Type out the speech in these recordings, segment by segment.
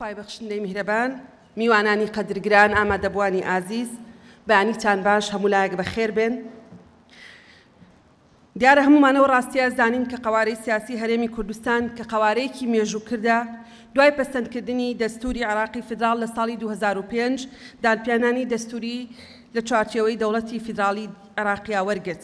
خوای بەخشندەی میهرەبان میوانانی قەدر گران ئامادەبوانی ئازیز بەیانیتان باش هەموو لایەک بەخێر بێن دیارە هەمومانەوە ڕاستیە زانین کە قەوارەی سیاسی هەرێمی کوردستان کە قەوارەیەکی مێژوو کردە دوای پەسەندکردنی دەستوری عراقی فیدراڵ لە ساڵی 2005 دانپیانانی دەستوری لە چوارچێوەی دەوڵەتی فیدراڵی عراقیا وەرگرت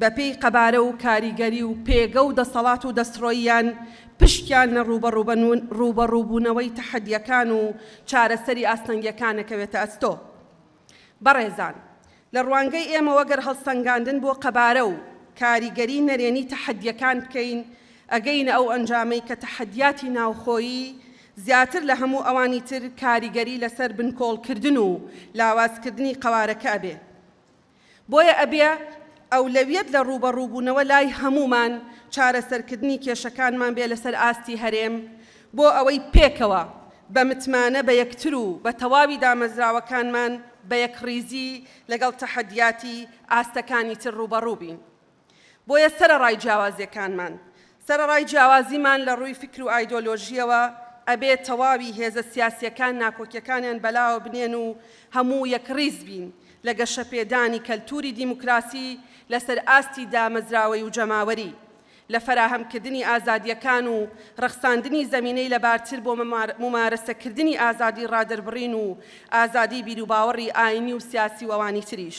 بە پێی قەبارە و کاریگەری و پێگە و دەسەڵات و دەستڕۆییان پشکیان لە ڕووبەڕووبوونەوەی تەحەدیەکان و چارەسەری ئاستەنگیەکان ئەکەوێتە ئەستۆ. بەڕێزان لە ڕوانگەی ئێمەوە گەر هەڵسەنگاندن بۆ قەبارە و کاریگەری نەرێنی تەحەدیەکان بکەین ئەگەینە ئەو ئەنجامەی کە تەحەدیاتی ناوخۆیی زیاتر لە هەموو ئەوانی تر کاریگەری لەسەر بنکۆڵکردن و لاوازکردنی قەوارەکە ئەبێ. بۆیە ئەبێ ئەولەویەت لە ڕووبەڕووبوونەوە لای هەموومان چارەسەرکردنی کێشەکانمان بێ لەسەر ئاستی هەرێم بۆ ئەوەی پێکەوە بە متمانە بە یەکتر و بە تەواوی دامەزراوەکانمان بە یەکڕیزی لەگەڵ تەحەدیاتی ئاستەکانی تر ڕووبەڕووبین. بۆیە سەرەڕای جیاوازیەکانمان، سەرەڕای جیاوازیمان لە ڕووی فیکر و ئایدۆلۆژیەوە، ئەبێ تەواوی هێزە سیاسیەکان ناکۆکیەکانیان بەلاوە بنێن و هەموو یەکڕیز بین لە گەشەپێدانی کەلتوری دیموکراسی لەسەر ئاستی دامەزراوەی و جەماوەری، لە فەراهەمکردنی ئازادیەکان و ڕەخساندنی زەمینەی لەبارتر بۆ مومارەسەکردنی ئازادی ڕادەربڕین و ئازادی بیروباوەڕی ئاینی و سیاسی و ئەوانی تریش.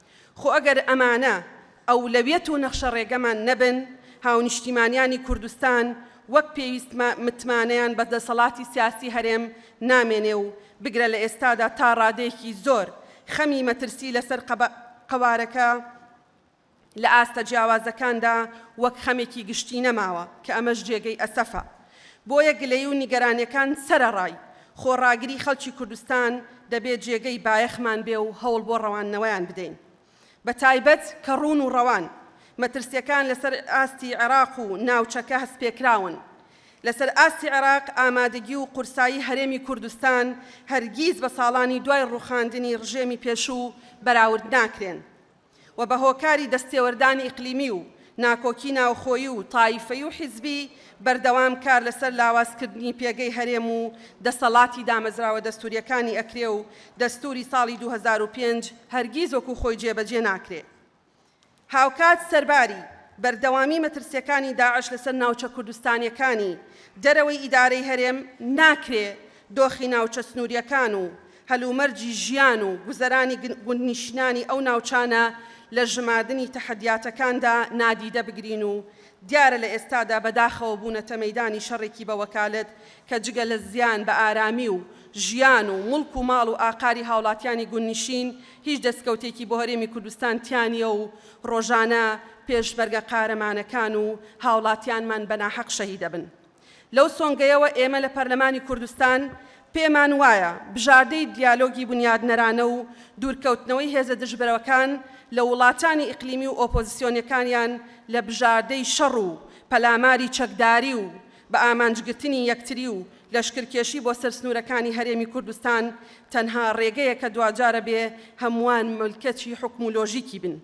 خۆ ئەگەر ئەمانە ئەولەویەت و نەخشە ڕێگەمان نەبن، هاونیشتیمانیانی کوردستان وەک پێویست متمانەیان بە دەسەڵاتی سیاسی هەرێم نامێنێ و بگرە لە ئێستادا تا ڕادەیەکی زۆر خەمی مەترسی لەسەر قەوارەکە لە ئاستە جیاوازەکاندا وەک خەمێکی گشتی نەماوە کە ئەمەش جێگەی ئەسەفە. بۆیە گلەیی و نیگەرانیەکان سەرەڕای خۆڕاگری خەڵکی کوردستان دەبێ جێگەی بایەخمان بێ و هەوڵ بۆ ڕەواندنەوەیان بدەین بە تایبەت کە ڕوون و ڕەوان مەترسیەکان لەسەر ئاستی عێراق و ناوچەکە هەستپێکراون لەسەر ئاستی عێراق ئامادەگی و قورسایی هەرێمی کوردستان هەرگیز بە ساڵانی دوای ڕوخاندنی ڕژێمی پێشوو بەراورد ناکرێن. و بە هۆکاری دەستێوەردانی ئیقلیمی و ناکۆکی ناوخۆیی و تایفەی و حیزبی بەردەوام کار لەسەر لاواز کردنی پێگەی هەرێم و دەسەڵاتی دامەزراوە دەستوریەکانی ئەکرێ و دەستوری ساڵی دوو هەزار و پێنج هەرگیز وەکو خۆی جێ بەجێ ناکرێ. هاوکات سەرباری بەردەوامی مەترسیەکانی داعش لەسەر ناوچە کوردستانیەکانی دەرەوەی ئیدارەی هەرێم ناکرێ دۆخی ناوچە سنوریەکان و هەلومەرجی ژیان و گوزەرانی گوندنیشینانی ئەو ناوچانە لە ژماردنی تەحەدیاتەکاندا نادیدە بگرین و دیارە لە ئێستادا بەداخەوە بوونەتە مەیدانی شەڕێکی بە وەکالەت کە جگە لە زیان بە ئارامی و ژیان و موڵک و ماڵ و ئاقاری هاوڵاتیانی گوندنیشین هیچ دەستکەوتێکی بۆ هەرێمی کوردستان تیا نییە و ڕۆژانە پێشمەرگە قارەمانەکان و هاوڵاتیانمان بە ناحەق شەهیدەبن. لەو سۆنگەیەوە ئێمە لە پەرلەمانی کوردستان پێمان وایە بژاردەی دیالۆگی بونیادنەرانە و دوورکەوتنەوەی هێزە دژبەرەکان لە وڵاتانی ئیقلیمی و ئۆپۆزسیۆنەکانیان لە بژاردەی شەڕ و پەلاماری چەکداری و بە ئامانجگرتنی یەکتری و لەشکرکێشی بۆ سەر سنوورەکانی هەرێمی کوردستان تەنها ڕێگەیەکە دواجارە بێ هەمووان ملکەچی حوکم و لۆژیکی بن.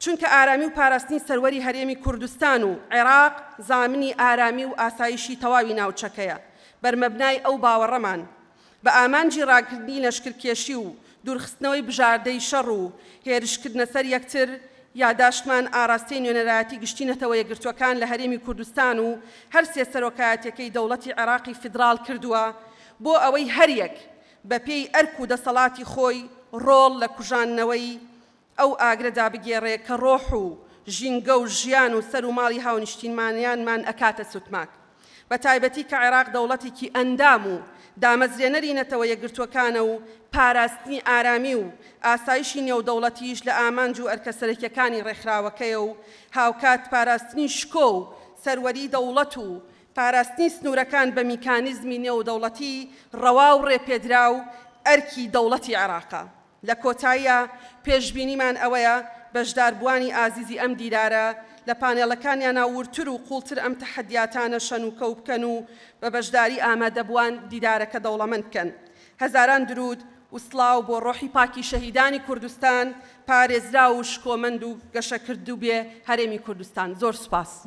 چونکە ئارامی و پاراستنی سەروەری هەرێمی کوردستان و عێراق زامنی ئارامی و ئاسایشی تەواوی ناوچەکەیە، بەرمەبنای ئەو باوەڕەمان، بە ئامانجی ڕاگرتنی لەشکرکێشی و دوورخستنەوەی بژاردەی شەڕ و هێرشکردنە سەر یەکتر، یاداشتمان ئاراستەی نوێنەرایەتی گشتی نەتەوە یەکگرتووەکان لە هەرێمی کوردستان و هەر سێ سەرۆکایەتیەکەی دەوڵەتی عێراقی فیدراڵ کردووە بۆ ئەوەی هەریەک بەپێی ئەرک و دەسەڵاتی خۆی ڕۆڵ لە کوژاندنەوەی ئەو ئاگرە دابگێڕێ کە ڕۆح و ژینگە و ژیان و سەر و ماڵی هاونیشتینمانیانمان ئەکاتە سوتماک بە تایبەتی کە عێراق دەوڵەتێکی ئەندام و دامەزرێنەری نەتەوە یەکگرتووەکانە و پاراستنی ئارامی و ئاسایشی نێودەوڵەتیش لە ئامانج و ئەرکە سەرەکیەکانی ڕێکخراوەکەیە و هاوکات پاراستنی شکۆ و سەروەری دەوڵەت و پاراستنی سنوورەکان بە میکانیزمی نێودەوڵەتی ڕەوا و ڕێپێدراو ئەرکی دەوڵەتی عێراقە. لە کۆتاییا پێشبینیمان ئەوەیە بەشداربووانی ئازیزی ئەم دیدارە لە پانێڵەکانیانا وردتر و قووڵتر ئەم تەحەدیاتانە شەن و کەو بکەن و بە بەشداری ئامادەبووان دیدارەکە دەوڵەمەند بکەن. هەزاران دروود و سڵاو بۆ ڕۆحی پاکی شەهیدانی کوردستان، پارێزراو و شکۆمەند و گەشەکردوبێ هەرێمی کوردستان. زۆر سوپاس.